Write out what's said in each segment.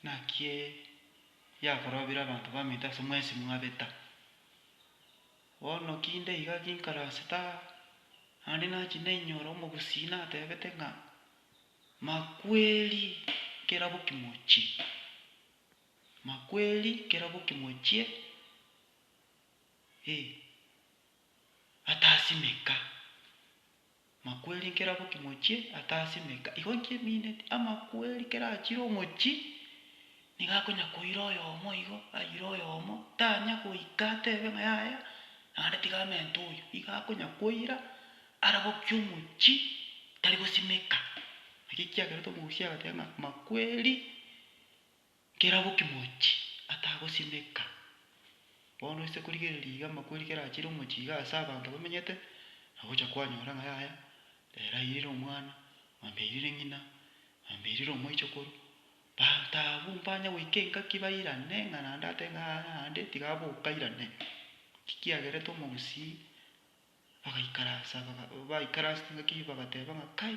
Naki yakorobire abanto baminto ase mwensi mwabeta. Bono ki nde iga ginkaransete aa? Naende nachia nainyora omogusii natebete ng'a, Makweri kerabo kimochie, makweri kerabo kimochie, ee, atasimeka. Amakweri nkeraboki mochie ata ase emeka igo inki emineti, amakweri kerachire omochi, nigo akonya koira oyomo igo, aire oyomo, tanya goika atebe ng'a yaya, naende tiga amente oyo, igo akonya koira, arabokie omochi, tari gosimeka. Naki kiagerete omogusia agateba ng'a amakweri. Kera bokimochi atagosimeka. Bono ase korigereria iga amakweri kera achire omochie iga ase abanto bamenyete, nagocha kwanyora ng'a yaya, ere airire omwana, mwambia airire ng'ina, mwambia airire omoichokoro, banto abwo mbanya goika engaki bairane ng'a naende atebe ng'a yaya naende tiga abe okairane. Naki kiagerete omogusii bagaikaransa baga baikaransa engaki bagateba ng'a kai.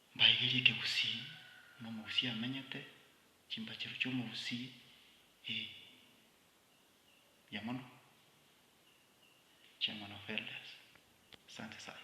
Mbaigerie ekegusii, buna omogusii amenyete, chimbachero chi'omogusii, ee, mbuya mono, Chairman of Elders. Asante sana.